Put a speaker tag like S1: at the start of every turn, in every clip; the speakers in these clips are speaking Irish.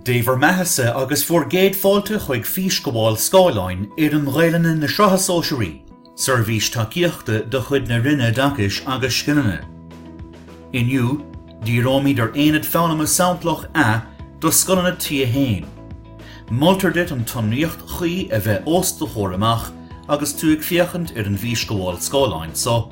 S1: Dé bhur mbeathasa agus bhur gcéad fáilte chuig Físghabháil Scáileáin Fhoireann Ghaelainne na Sraithe Sóisearaí, seirbhís tacaíochta de chuid na Roinne Oideachais agus Scileanna. Inniu, díreoimid ar Aonad Foghlama Samplach A do Scoileanna T1. Moltar duit an tsonraíocht chuí a bheith os do chomhair amach agus tú ag féachaint ar an bhFísghabháil Scáileáin so.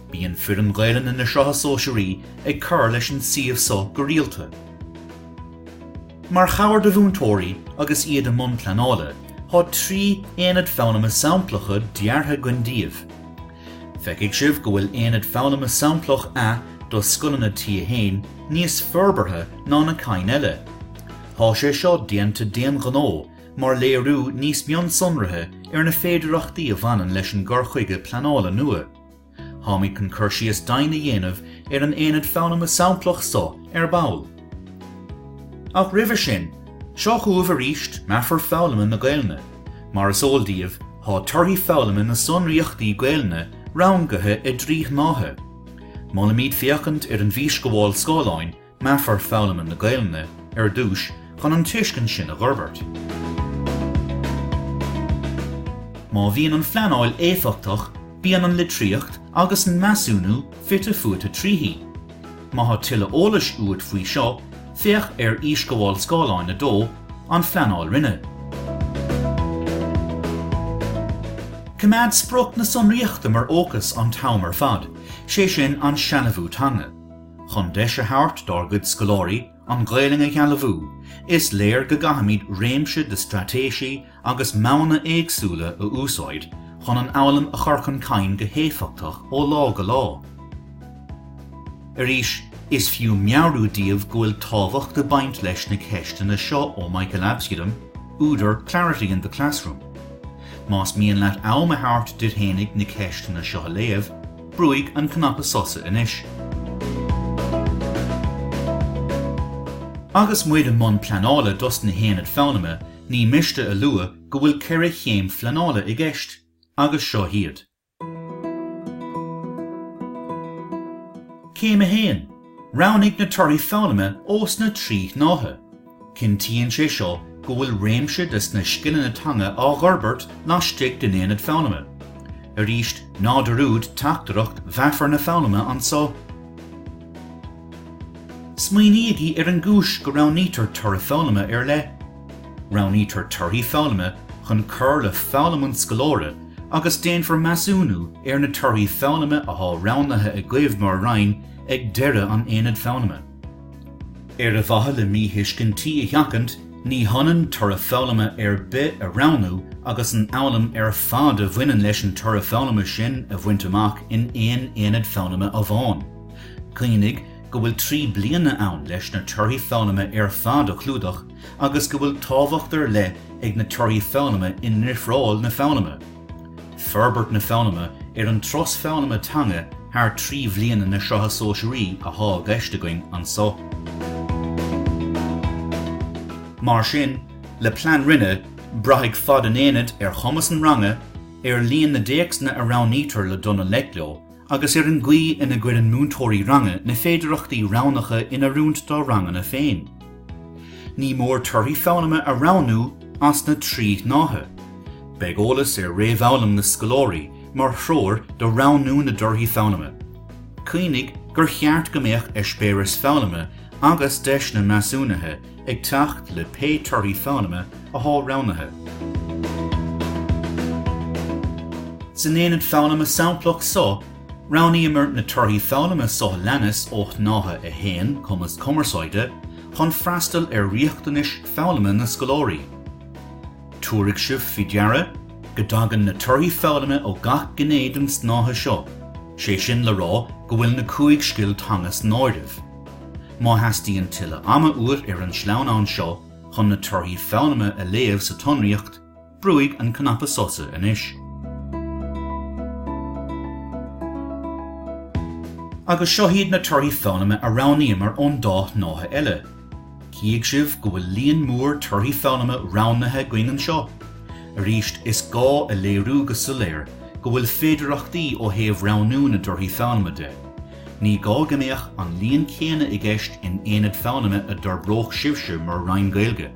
S1: Bíonn foireann Gaelainne na Sraithe Sóisearaí ag cur leis an suíomh so go rialta. Mar chabhair do mhúinteoirí agus iad i mbun pleanála, thá trí Aonad Foghlama Samplacha deartha againn daoibh. Feicfidh sibh go bhfuil Aonad Foghlama Samplach A do Scoileanna T1 níos forbartha ná na cinn eile. Thá sé seo déanta d'aon ghnó mar léiriú níos mionsonraithe ar na féidireachtaí a bhaineann leis an gcur chuige pleanála nua. Tháimid chun cur síos daoibh a dhéanamh ar an aonad foghlama samplach so ar ball. Ach roimhe sin, seo chugaibh aríst meafar foghlama na Gaelainne. Mar is eol daoibh, thá torthaí foghlama na sonraíochtaí Gaelainne rangaithe i dtrí shnáithe. Molaimid féachaint ar an bhfísghabháil scáileáin meafar foghlama na Gaelainne ar dtús chun an tuiscint sin a dh'fhorbairt. Má bhíonn an phleanáil éifeachtach bíonn an litríocht agus an measúnú fite fuaite tríthi. Má thá tuilleadh eolais uait faoi seo, féach ar Fhísghabháil Scáileáin 2, An Phleanáil Roinne. Coimeád sprioc na sonraíochta mar fhócas an t-am ar fad, sé sin, an sealbhú teanga. Chun deis a thabhairt dár gcuid scoláirí an Ghaelainn a shealbhú, is léir go gcaithfimid réimse de straitéisí agus modhanna éagsúla a úsáid chun an fhoghlaim a chur chun cinn go héifeachtach ó lá go lá. Arís, is fiú meabhrú daoibh go bhfuil tábhacht ag baint leis na ceisteanna seo ó Michael Absolum, údar Clarity in the Classroom. Más mian leat am a thabhairt duit fhéinig na ceisteanna seo a léamh, Brúigh an cnaipe sosa anois. Agus muid i mbun pleanála dos na haonaid foghlama, ní miste a lua go bhfuil ceithre chéim phleanála i gceist, agus seo iad. Céim 1, Roghnaigh na torthaí foghlama ós na trí shnáithe. Cinntíonn sé seo go bhfuil réimse des na scileanna teanga á dh'fhorbairt laistigh den aonad foghlama. Arís, ná dearúd teachtaireacht mheafar na foghlama anso. Smaoinígí ar an gcúis go roghnaítear toradh foghlama ar leith. Roghnaítear torthaí foghlama chun cur le foghlaim an scoláire agus déanfar measúnú ar na torthaí foghlama athá roghnaithe agaibh mar Roinn ag deireadh an aonaid foghlama. Ar mhaithe le míthuiscintí a sheachaint, ní hionann toradh foghlama ar bith a roghnú agus an fhoghlaim ar fad a bhaineann leis an toradh foghlama sin a bhaint amach in aon aonad foghlama amháin. Cuimhnigh go bhfuil trí bliana ann leis na torthaí foghlama ar fad a chlúdach agus go bhfuil tábhacht ar leith ag na torthaí foghlama i ndifreáil na foghlama. Forbairt na Foghlama ar an turas foghlama teanga thar trí bhliana na Sraithe Sóisearaí athá i gceist againn anso. Mar sin, le plean roinne, braithfidh fad an aonaid ar chumas an ranga, ar líon na dtéacsanna a roghnaítear le dul i ngleic leo, agus ar an gcaoi ina gcuireann múinteoirí ranga na féidearthachtaí roghnacha in oiriúint dá ranganna féin. Ní mór torthaí foghlama a roghnú as na trí shnáithe. Beidh eolas ar réamhfhoghlaim na scoláirí mar threoir do roghnú na dtorthaí foghlama. Cuimhnigh gur cheart go mbeadh eispéiris foghlama agus deiseanna measúnaithe ag teacht le pé torthaí foghlama athá roghnaithe. San aonad foghlama samplach so, roghnaíomar na torthaí foghlama so a leanas ó Shnáithe 1, Cumas Cumarsáide, chun freastal ar riachtanais foghlama na scoláirí. Tabharfaidh sibh faoi deara go dtagann na torthaí foghlama ó gach gné den tsnáithe seo, sé sin le rá go bhfuil na cúig scil teanga san áireamh. Má theastaíonn tuilleadh ama uait ar an sleamhnán seo chun na torthaí foghlama a léamh sa tsonraíocht, brúigh an cnaipe sosa anois. Agus seo iad na torthaí foghlama a roghnaíomar ón dá shnáithe eile. Cífidh sibh go bhfuil líon mór torthaí foghlama roghnaithe againn anseo. Arís, is gá a léiriú go soiléir go bhfuil féidearthachtaí ó thaobh roghnú na dtorthaí foghlama de. Ní gá go mbeadh an líon céanna i gceist in aonad foghlama a d'fhorbródh sibhse mar Roinn Gaeilge,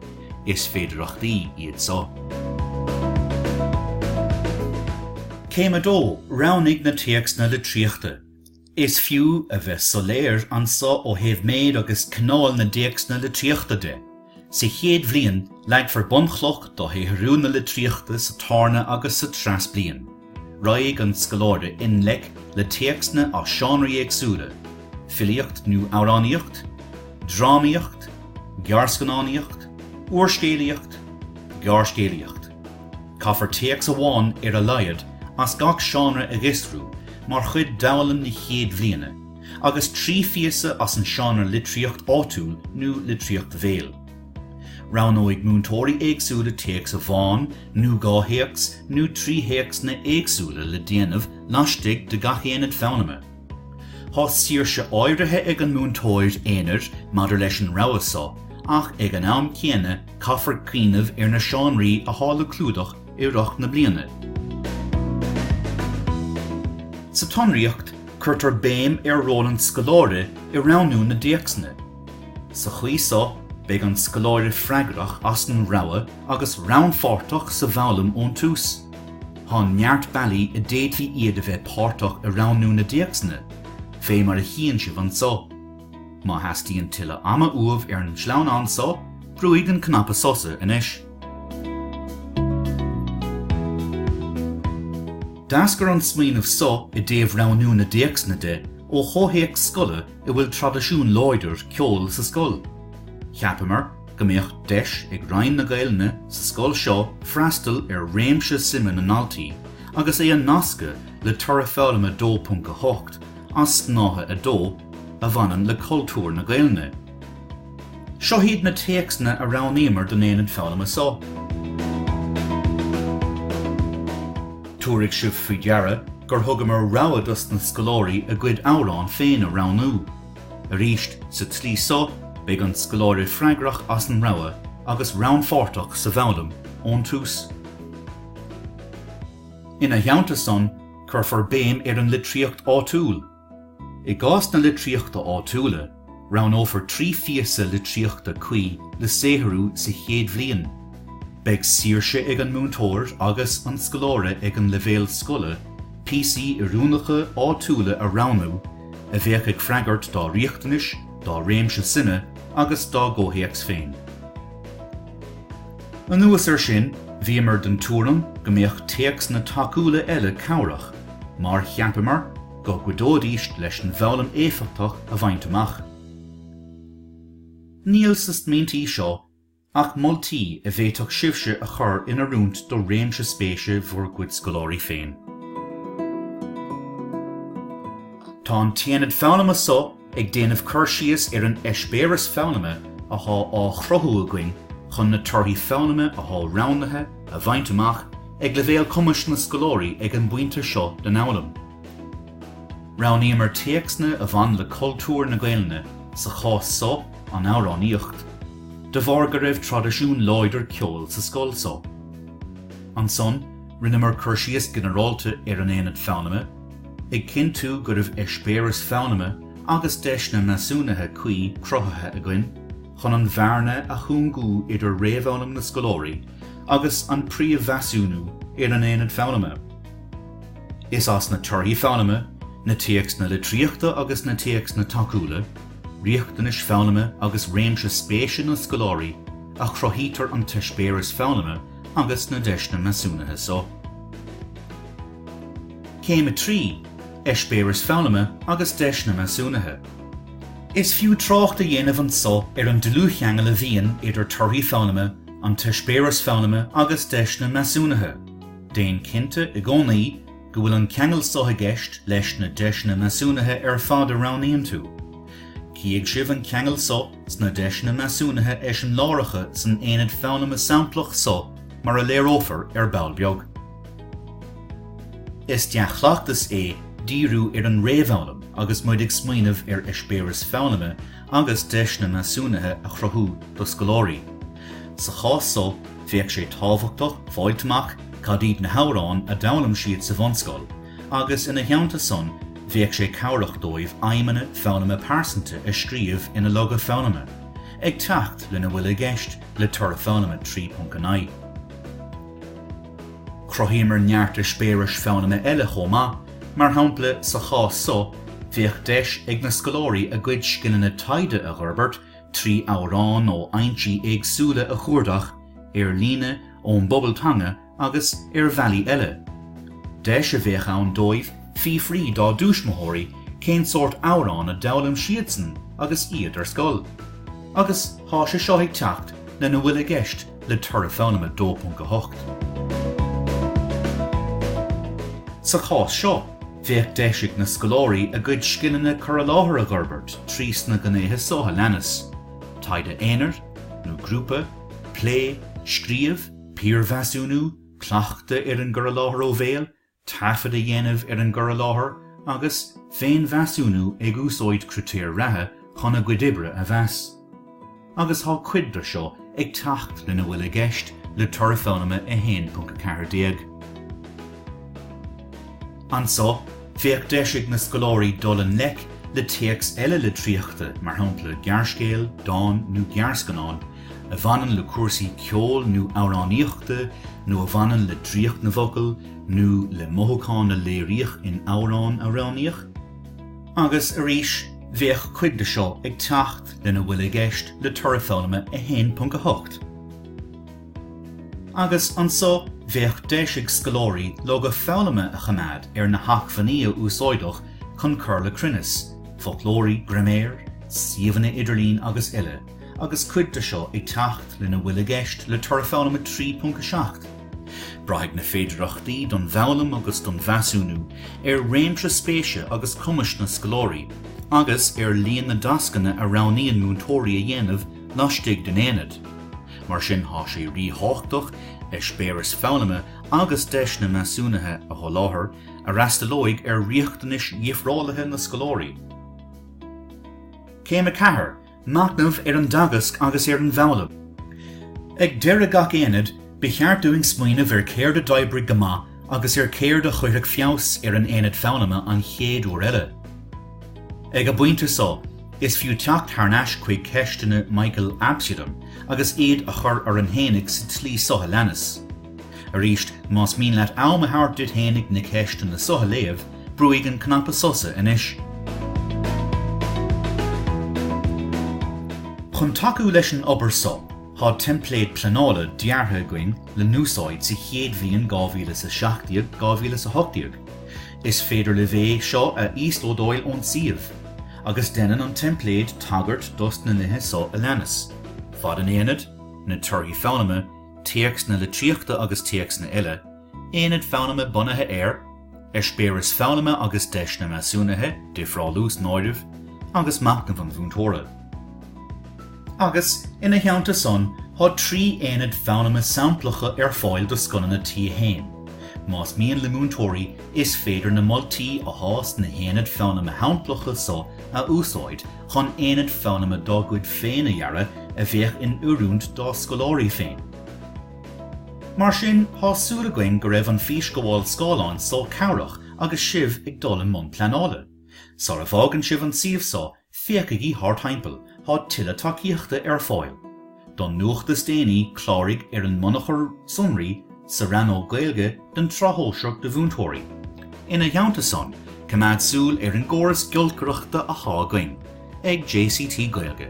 S1: is féidearthachtaí iad seo. Céim 2, Roghnaigh na téacsanna litríochta. Is fiú a bheith soiléir anso ó thaobh méid agus cineál na dtéacsanna litríochta de. Sa chéad bhliain, leagfar bunchloch do shaothrú na litríochta sa tarna agus sa treas bliain. Raghaidh an scoláire i ngleic le téacsanna as seánraí éagsúla, filíocht nó amhránaíocht, drámaíocht, gearrscannánaíocht, úrscéalaíocht, gearrscéalaíocht. Caithfear téacs amháin ar a laghad as gach seánra a fhiosrú mar chuid d'fhoghlaim na chéad bhliana. agus trí phíosa as an seánra litríocht áitiúil nó litríocht bhéal. Roghnóidh múinteoirí éagsúla téacs amháin nó dhá théacs nó trí théacsanna éagsúla le déanamh laistigh de gach aonad foghlama. Tá saoirse áirithe ag an múinteoir aonair maidir leis an rogha so ach ag an am céanna caithfear cuimhneamh ar na seánraí atá le clúdach i rith na bliana. Sa tsonraíocht, cuirtear béim ar ról an scoláire i roghnú na dtéacsanna. Sa chaoi so, beidh an scoláire freagrach as an rogha agus rannpháirteach sa bhfoghlaim ón tús. Tá neart bealaí a bhféadfaí iad a bheith páirteach i roghnú na dtéacsanna, fé mar a chíonn sibh anso. Má theastaíonn tuilleadh ama uaibh ar an sleamhnán so, brúigh an cnaipe sosa anois. D'eascair an smaoineamh so i dtaobh roghnú na dtéacsanna de ó chomhthéacs scoile a bhfuil traidisiún láidir ceoil sa scoil. Cheapamar go mbeadh deis ag Roinn na Gaelainne sa scoil seo freastal ar réimse suime na ndaltaí agus é a nascadh le toradh foghlama 2.8 as snáithe 2 a bhaineann le cultúr na Gaelainne. Seo hiad na téacsanna a roghnaíomar don Aonad Foghlama so. Tabharfaidh sibh faoi deara gur thugamar rogha dos na scoláirí a gcuid amhrán féin a roghnú. Arís, sa tslí so, beidh an scoláire freagrach as an rogha agus rannpháirteach sa bhfoghlaim ón tús. Ina theannta san, cuirfear béim ar an litríocht áitiúil. I gcás na litríochta áitiúla, roghnófar trí phíosa litríochta cuí le saothrú sa chéad bhliain. Beidh saoirse ag an múinteoir agus an scoláire ag an leibhéal scoile píosaí oiriúnacha áitiúla a roghnú a bheadh ag freagairt dá riachtanais, dá réimse suime agus dá gcomhthéacs féin. Anuas air sin, bhíomar den tuairim go mbeadh téacsanna tacúla eile cabhrach, mar cheapamar go gcuideoidís leis an bhfoghlaim éifeachtach a bhaint amach. Níl sna smaointe seo ach moltaí a bhféadfadh sibhse a chur in oiriúint do réimse spéise bhur gcuid scoláirí féin. Tá an tAonad Foghlama so. Ag déanamh cur síos ar an eispéireas foghlama athá á chruthú againn chun na torthaí foghlama athá roghnaithe a bhaint amach ag leibhéal cumais na scoláirí ag an bpointe seo den fhoghlaim, roghnaíomar téacsanna a bhain le cultúr na Gaelainne, sa chás so, an amhránaíocht, de bharr go raibh traidisiún láidir ceoil sa scoil so. Ansan, rinneamar cur síos ginearálta ar an aonad foghlama, ag cinntiú go raibh eispéireas foghlama agus deiseanna measúnaithe cuí cruthaithe againn chun an bhearna a chúngú idir réamhfhoghlaim na scoláirí agus an príomh-mheasúnú ar an aonad foghlama. Is as na torthaí foghlama, na téacsanna litríochta agus na téacsanna tacúla, riachtanais foghlama agus réimse spéise na scoláirí a chruthaítear an t-eispéireas foghlama agus na deiseanna measúnaithe seo. Céim 3, Eispéireas Foghlama agus Deiseanna Measúnaithe. Is fiú trácht a dhéanamh anso ar an dlúthcheangal a bhíonn idir torthaí foghlama, an t-eispéireas foghlama agus deiseanna measúnaithe. Déan cinnte i gcónaí go bhfuil an ceangal so i gceist leis na deiseanna measúnaithe ar fad a roghnaíonn tú. Cífidh sibh an ceangal so sna deiseanna measúnaithe eiseamláireacha san aonad foghlama samplach so mar a léireofar ar ball beag. Is dea-chleachtas é díriú ar an réamhfhoghlaim agus muid ag smaoineamh ar eispéireas foghlama agus deiseanna measúnaithe a chruthú do scoláirí. Sa chás so, bheadh sé tábhachtach fáilt amach cad iad na hamhráin a d'fhoghlaim siad sa bhunscoil agus ina theannta san bheadh sé cabhrach dóibh aidhmeanna foghlama pearsanta a scríobh ina loga foghlama, ag teacht lena bhfuil i gceist le Toradh Foghlama 3.9. Chruthaíomar neart eispéiris foghlama eile chomh maith, mar shampla sa chás so bheadh deis ag na scoláirí a gcuid scileanna taighde a dh'fhorbairt trí amhráin ó fhoinsí éagsúla a chuardach, ar líne, ón bpobal teanga agus ar bhealaí eile. Deis a bheadh ann dóibh fiafraí dá dtúismitheoirí cén sórt amhrán a d'fhoghlaim siadsan agus iad ar scoil. Agus tá sé seo ag teacht lena bhfuil i gceist le toradh foghlama 2.8. Sa chás seo, bheadh deis ag na scoláirí a gcuid scileanna cur i láthair a dh'fhorbairt trí sna gnéithe so a leanas, taighde aonair nó grúpa, plé, scríobh, piarmheasúnú, cleachtadh ar an gcur i láthair ó bhéal, taifead a dhéanamh ar an gcur i láthair agus féinmheasúnú ag úsáid critéir ratha chun a gcuid oibre a mheas, agus tá cuid de seo ag teacht lena bhfuil i gceist le Toradh Foghlama 1.14. Anseo, bheadh deis ag na scoláirí dul i ngleic le téacs eile litríochta, mar shampla gearrscéal, dán nó gearrscannán, a bhaineann le cúrsaí ceoil nó amhránaíochta nó a bhaineann le draíocht na bhfocal nó le mothúcháin a léiríodh in amhrán a roghnaíodh, agus arís bheadh cuid de seo ag teacht lena bhfuil i gceist le Toradh Foghlama 1.8. Agus anso bheadh deis ag scoláirí loga foghlama a choimeád ar na hacmhainní a úsáideadh chun cur le cruinneas, foclóirí, graiméir, suíomhanna idirlín agus eile. agus cuid de seo ag teacht lena bhfuil i gceist le Toradh Foghlama 3.7. Braithfidh na féidearthachtaí don bhfoghlaim agus don mheasúnú ar réimse spéise agus cumais na scoláirí agus ar líon na dtascanna a roghnaíonn múinteoirí a dhéanamh laistigh den aonad. Mar sin thá sé ríthábhachtach eispéiris foghlama agus deiseanna measúnaithe a sholáthar a fhreastalóidh ar riachtanais dhifreálaithe na scoláirí. Céim 4, Machnamh ar an dteagasc agus ar an bhfoghlaim Ag deireadh gach aonaid, ba cheart dúinn smaoineamh ar céard a d'oibrigh go maith agus ar céard a chuirfeadh feabhas ar an aonad foghlama an chéad uair eile. Ag an bpointe so, is fiú teacht thar n-ais chuig ceisteanna Michael Absolum agus iad a chur orainn fhéinig sa tslí so a leanas. Arís, más mian leat am a thabhairt duit féinig na ceisteanna so a léamh, brúigh an cnaipe sosa anois. Chun tacú leis an obair so, thá teimpléad pleanála deartha againn le n-úsáid sa chéad bhliain 2017, 2018. Is féidir libh é seo a íoslódáil ón suíomh, agus deineann an teimpléad tagairt dos na nithe so a leanas, Fad an aonaid, Na torthaí foghlama, téacsanna litríochta agus téacsanna eile, aonaid foghlama bunaithe ar eispéiris foghlama agus deiseanna measúnaithe, difreálú san áireamh, agus machnamh an mhúinteora. Agus, ina theannta san, thá trí aonad foghlama samplacha ar fáil do scoileanna T1. Más mian le múinteoirí, is féidir na moltaí athá sna haonaid foghlama shamplacha so a úsáid chun aonad foghlama dá gcuid féin a dhearadh a bheadh in oiriúint dá scoláirí féin. Mar sin, thá súil againn go raibh an físghabháil scáileáin so cabhrach agus sibh ag dul i mbun pleanála. Sara bhfágann sibh an suíomh so, féachaigí thart thimpeall, thá tuilleadh tacaíochta ar fáil. Don nuacht is déanaí, cláraigh ar an mbunachar sonraí sa rannóg Gaeilge den tSraith Shóisearach do Mhúinteoirí. Ina theannta san, coimeád súil ar an gcóras giolcaireachta athá againn ag JCT Gaeilge.